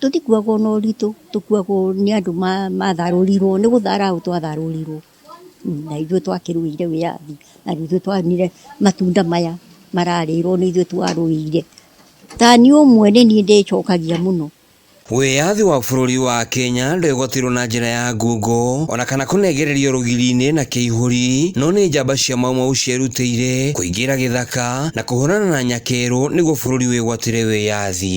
Tũtikuagwo na ũritũ, tũkuagwo nĩ andũ matharũrirwo, nĩ gũthara ũ twatharũrirwo, na ithuĩ twakĩrũĩire wĩyathi, na nĩ ithuĩ tuonire matunda maya mararĩrwo nĩ ithuĩ twarũĩire. Ta niĩ ũmwe nĩ niĩ ndĩcokagia mũno. Wĩyathi wa bũrũri wa Kenya ndwĩgwatĩirwo na njĩra ya ngungo ona kana kũnengererio rũgiri-inĩ na kĩihũri, no nĩ njamba cia Mau Mau cierutĩire kũingĩra gĩthaka na kũhũrana na nyakerũ nĩguo bũrũri wĩgwatĩre wĩyathi.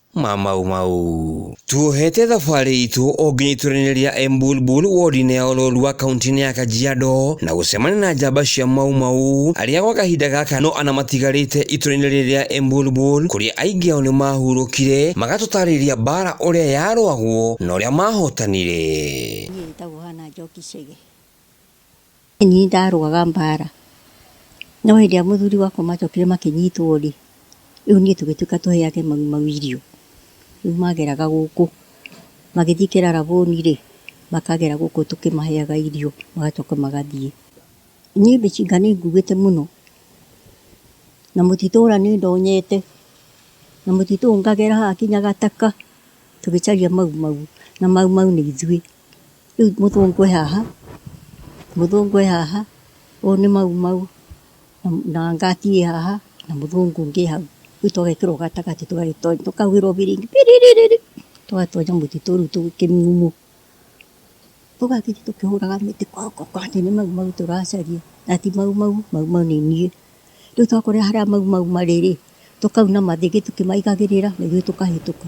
ma Mau Mau. Tuohete thabarĩ itũ o nginya itũranĩria Embulbul wodi-inĩ ya Ololua kaunti-inĩ ya Kajiado na gũcemania na njamba cia Mau Mau arĩa gwa kahinda gaka no ana matigarĩte itũra-inĩ rĩrĩ rĩa Embulbul kũrĩa aingĩ ao nĩ mahurũkire magatũtarĩria mbara ũrĩa yarũagwo na ũrĩa mahotanire. Niĩ njĩtagwo Hannah Njoki Chege. Niĩ ndarũaga mbaara, no hĩndĩ ĩrĩa mũthuri wakwa macokire makĩnyitwo-rĩ, rĩu niĩ tũgĩtuĩka tũhe ake mau mau irio. Rĩu mageraga gũkũ, magĩthiĩ Kĩraraboni-rĩ, makagera gũkũ tũkĩmaheaga irio, magacoka magathiĩ. Niĩ mĩcinga nĩnguĩte mũno, na mũtitũra nĩndonyete, na mũtitũ ũyũ ngagera haha nginya gataka, tũgĩcaria mau mau, na mau mau nĩ ithuĩ. Rĩu mũthũngũ e haha, mũthũngũ e haha, ũyũ nĩ Mau Mau, na ngati ĩ haha, na mũthũngũ ũngĩ e hau. Rĩu tũgekĩrwo gatagatĩ tũgagĩtonyio, tũkahuhĩrwo biringi piriri, tũgatonyio mũtitũ rĩu twĩ kĩmumu. Tũgathiĩ tũkĩhũraga mĩtĩ koko kwanja nĩ Mau Mau tũracaria, na ti Mau Mau, Mau Mau nĩ niĩ. Rĩu twakorire harĩa Mau Mau marĩ rĩ, tũkauna mathĩgĩ tũkĩmaigagĩrĩra na ithuĩ tũkahĩtũka.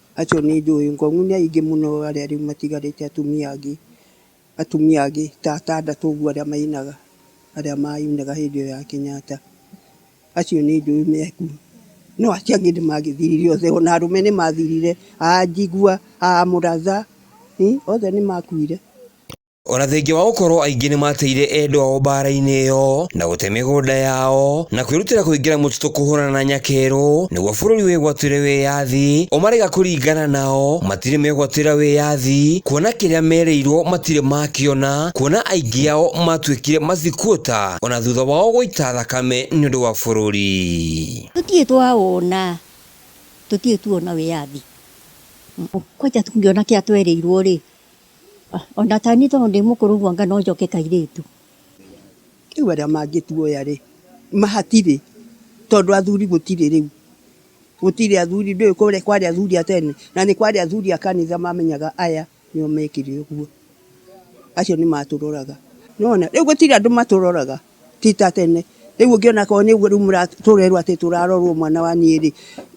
Acio nĩ njũĩ. Ngong'u nĩ aingĩ mũno arĩa rĩu matigarĩte atumia angĩ, atumia angĩ ta atandatũ ũguo arĩa mainaga, arĩa mainaga hĩndĩ ĩyo ya Kenyatta. Acio nĩ njũĩ me kuo. No acio angĩ nĩ mathirire othe. O na arũme nĩ mathirire, a Njigua, a Mũratha, othe nĩ makuire. O na thengia wa gũkorũo aingĩ nĩ maateire endwa ao mbaara-inĩ ĩyo na gũte mĩgũnda yao na kwĩrutĩra kũingĩra mũtitũ kũhũrana na Nyakeru nĩguo bũrũri wĩgwatĩre wĩyathi, ũmarega kũringana nao matirĩ megwatĩra wĩyathi kuona kĩrĩa merĩirwo matirĩ makĩona kuona aingĩ ao matuĩkire masikuota o na thutha wao gũita thakame nĩ ũndũ wa bũrũri. Tũtirĩ twawona, tũtirĩ tuona wĩyathi. Kwanja tũngĩona kĩrĩa twerĩirwo-rĩ, Onata niĩ tondũ ndĩ mũkũrũ ũguo anga no njoke kairĩtu. Rĩu arĩa mangĩtuoya rĩ, mahatirĩ tondũ athuri gũtirĩ rĩu, gũtirĩ athuri ndũĩ kũrĩa kwarĩ athuri a tene na nĩ kwarĩ athuri a kanitha mamenyaga aya nĩo mekĩrĩ ũguo, acio nĩ matũroraga. Nĩwona rĩu gũtirĩ andũ matũroraga ti ta tene, rĩu ũngĩona akorwo nĩ ũguo rĩu mũra tũrerwo atĩ tũrarorwo mwana wa niĩ rĩ.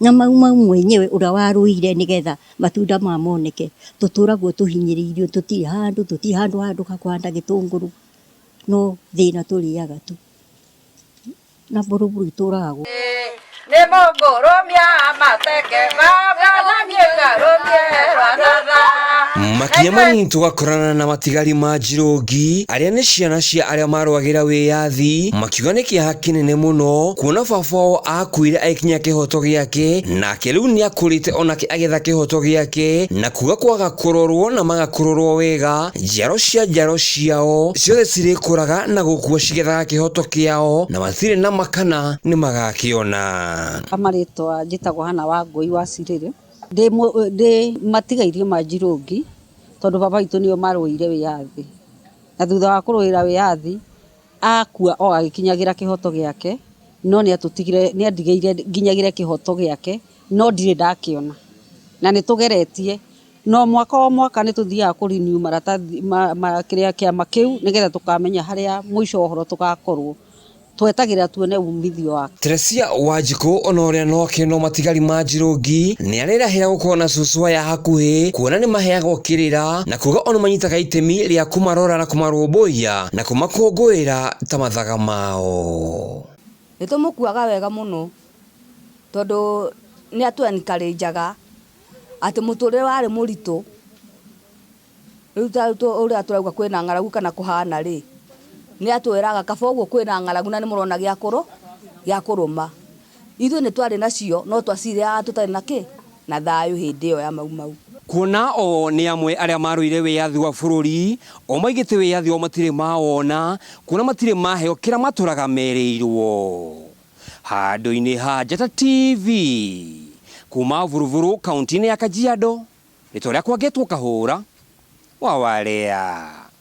Na mau mau mwenyewe ũrĩa warũire nĩgetha matunda maya moneke, tũtũragwo tũhinyĩrĩirio tũtirĩ handũ, tũtirĩ handũ handũ ha kũhanda gĩtũngũrũ, no thĩna tũrĩaga tu. Na buruburu itũraga gũkũ. Makinya manini tũgakorana na matigari ma Njirũngi, arĩa nĩ ciana cia arĩa marũagĩra wĩyathi, makiuga nĩ kĩeha kĩnene mũno kuona baba wao akuire agĩkinya kĩhoto gĩake, nake rĩu nĩakũrĩte onake agetha kĩhoto gĩake, na kuga kwaga kũrorwo na maga kũrorwo wega, njiaro cia njiaro ciao ciothe cirĩkũraga na gũkua cigethaga kĩhoto kĩao, na matirĩ na makana nĩmagakĩona. Marĩtwa njĩtagwo Hana Wangũi wa Cirĩrĩ, ndĩ ndĩ matigairie ma Njirũngi, tondũ baba witũ nĩo marũĩire wĩyathi, na thutha wa kũrũĩra wĩyathi, Akua o agĩkinyagĩra kĩhoto gĩake, no nĩatũtigire nĩandigĩire nginyagĩre kĩhoto gĩake, no ndirĩ ndakĩona. Na nĩtũgeretie, na o mwaka o mwaka nĩtũthiaga kũ renew maratathi ma ma kĩrĩa kĩama kĩu, nĩgetha tũkamenya harĩa mũico wa ũhoro tũgakorwo. Twetagĩrĩra tuone umithio wa. Teresia Wanjikũ ona ũrĩa no akĩnwo matigari ma njirũngi nĩ arĩrahĩra gũkorwo na cucu aya hakuhĩ kuona nĩ maheagwo kĩrĩra na kuga ona manyitaga itemi rĩa kũmarora na kũmarũmbũiya na kũmakũngũĩra ta mathaga mao. Nĩ tũmũkuaga wega mũno tondũ nĩ atũ encourageaga atĩ mũtũrĩre warĩ mũritũ. Rĩu ta rĩu tũ- ũrĩa tũrauga kwĩna ng'aragu kana kũhana rĩ nĩ atwĩraga kaba ũguo kwĩna ng'aragu na nĩ mũrona gĩa kũrũ gĩa kũrũma ithuĩ nĩ twarĩ nacio no twacirĩaga tũtarĩ na kĩ na thayũ hĩndĩ ĩyo ya mau mau Kuona o nĩ amwe arĩa marũire wĩyathi wa bũrũri, o maigĩte wĩyathi wao matirĩ mawona, kuona matirĩ maheo kĩrĩa matũraga merĩirwo. Handũ-inĩ ha Njata TV, kuma Vuruvuru kaunti-inĩ ya Kajiado, rĩtwa rĩakwa ngetwo Kahũra wa Warea.